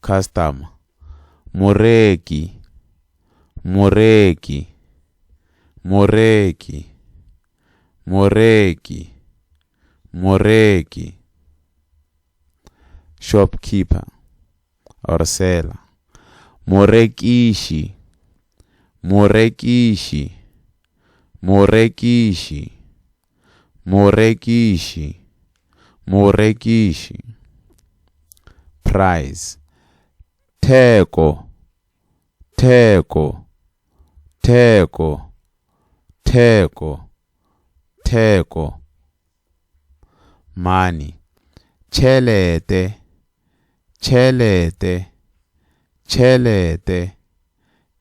Customer, Moreki, Moreki, Moreki, Moreki, Moreki. Shopkeeper or seller, Morekiši, Morekiši, Morekiši. Morekiši, morekiši. Price, theko, theko, theko, theko, theko. Money, tšhelete, tšhelete, tšhelete,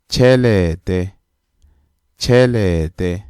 tšhelete, tšhelete.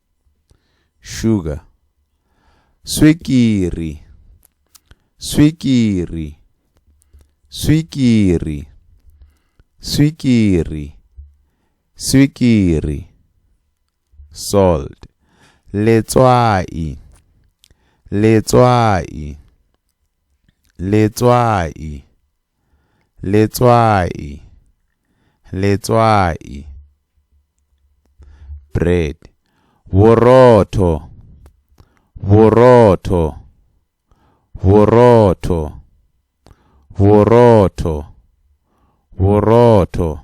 Sugar. Swikiri. Swikiri. Swikiri. Swikiri. Swikiri. Salt. Letswai. Letswai. Letswai. Letswai. Letswai. Bread. Borotho. Borotho. Borotho. Borotho. Borotho.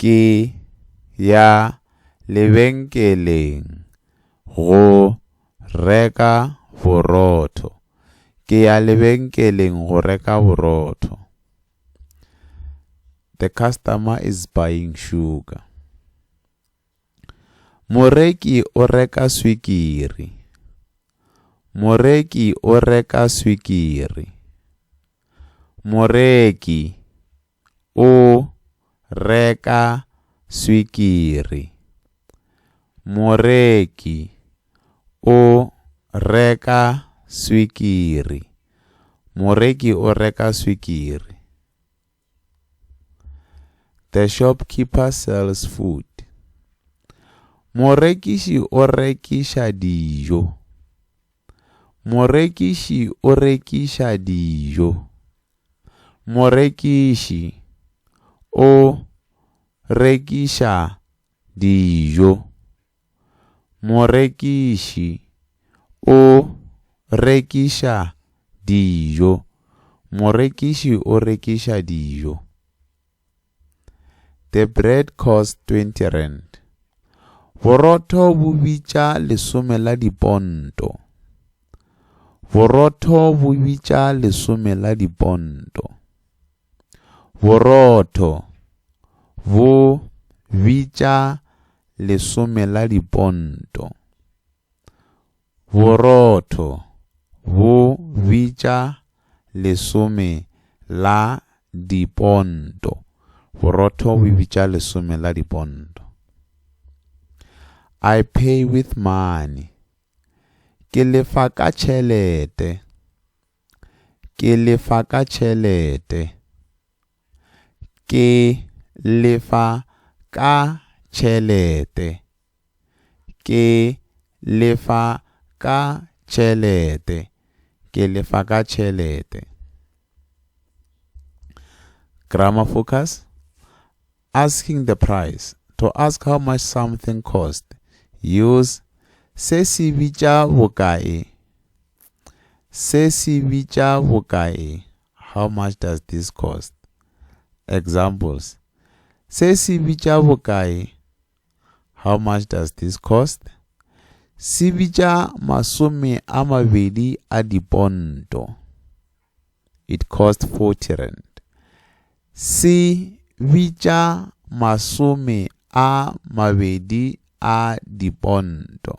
Ke ya lebenkeleng go reka borotho. Ke ya lebenkeleng go reka borotho. The customer is buying sugar. Moreki o reka swikiri. Moreki o reka swikiri. Moreki. o reka swikiri, moreki o reka swikiri, moreki o reka swikiri. The shopkeeper sells food. Morekiši o rekiša dijo, morekiši o rekiša dijo. Morekiši o rekiša dijo. Morekiši o rekiša dijo. Morekiši o rekiša dijo. The bread cost 20 rand. Borotho bo bitša lesome la diponto. Borotho bo bitša lesome la diponto. Borotho bo bitša lesome la diponto. Borotho bo bitša lesome la diponto. Borotho bo bitša lesome la diponto. I pay with money. Ke lefa ka tšhelete. Ke lefa ka tšhelete. Ke lefa ka tšhelete. Ke lefa ka tšhelete. Ke lefa ka tšhelete. Grammar focus. Asking the price. To ask how much something cost. Use se se bitša bokae. Se se bitša bokae. How much does this cost? Examples, Se se bitša bokae? How much does this cost? Se bitša masome a mabedi a diponto. It cost 40 rand. Se bitša masome a mabedi a diponto.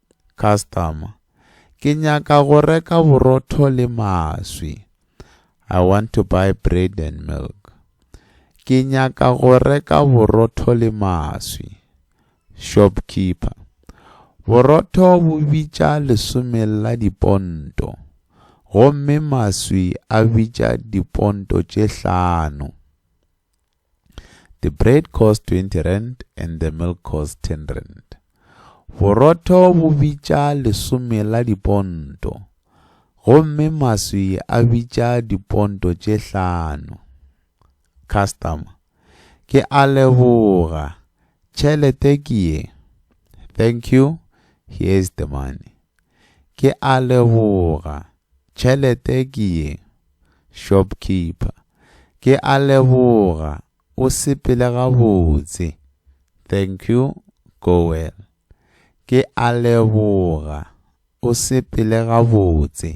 Customer, Ke nyaka go reka borotho le maswi. I want to buy bread and milk. Ke nyaka go reka borotho le maswi. Shopkeeper, Borotho bo bitša lesome la diponto, gomme maswi a bitša diponto tše hlano. The bread cost 20 rand and the milk cost 10 rand. Borotho bo bitša lesome la diponto, gomme maswi a bitša diponto tše hlano. Customer, ke a leboga, tšhelete ke ye. Thank you, here is the money. Ke a leboga. Tšhelete ke ye. Shopkeeper, Ke a leboga, o sepele gabotse. Thank you, go well. Ke a leboga, o sepele gabotse.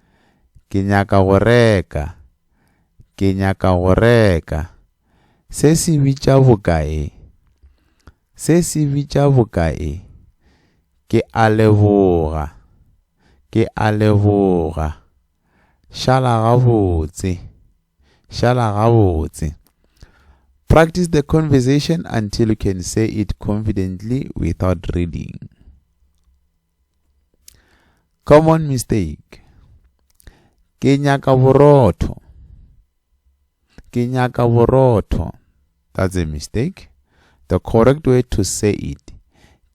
Ke nyaka go reka. Ke nyaka go reka. Se se bitša bokae? Se se bitša bokae? Ke a leboga. Ke a leboga. Šala gabotse. Šala gabotse. Practice the conversation until you can say it confidently without reading. Common mistake. Ke nyaka borotho. Ke nyaka borotho. That's a mistake. The correct way to say it.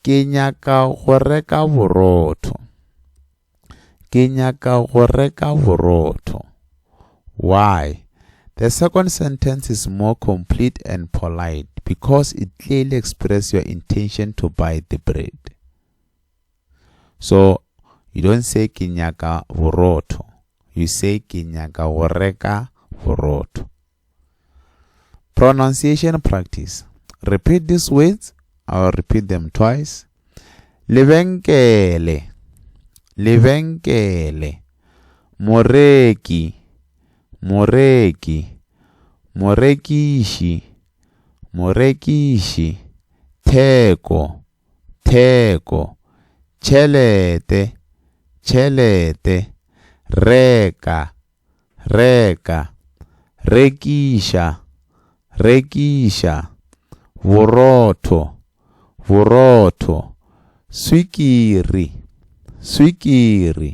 Ke nyaka go reka borotho. Ke nyaka go reka borotho. Why? The second sentence is more complete and polite because it clearly expresses your intention to buy the bread. So you don't say ke nyaka borotho. You say ke nyaka go reka borotho. Pronunciation practice. Repeat these words. I'll repeat them twice. Lebenkele. Lebenkele. Moreki. Moreki. Morekishi. Morekishi. Theko. Theko, tšhelete, tšhelete, reka, reka, rekiša, rekiša, borotho, borotho, swikiri, swikiri,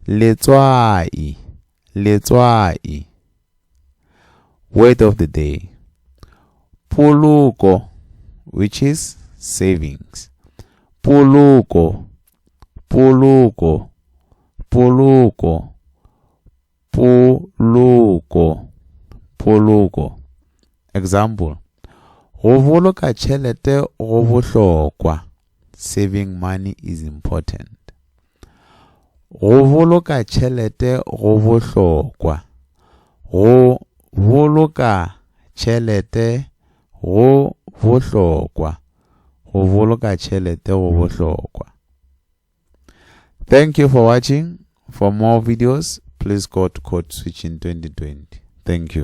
letswai, Letswai Word of the day Poloko which is savings. Poloko Poloko Poloko Poloko Poloko Example Go boloka tšhelete go bohlokwa. Saving money is important. Go boloka tšhelete go bohlokwa. Go boloka tšhelete go bohlokwa. Go boloka tšhelete go bohlokwa. Thank you for watching. For more videos, please go to Code Switching 2020. Thank you.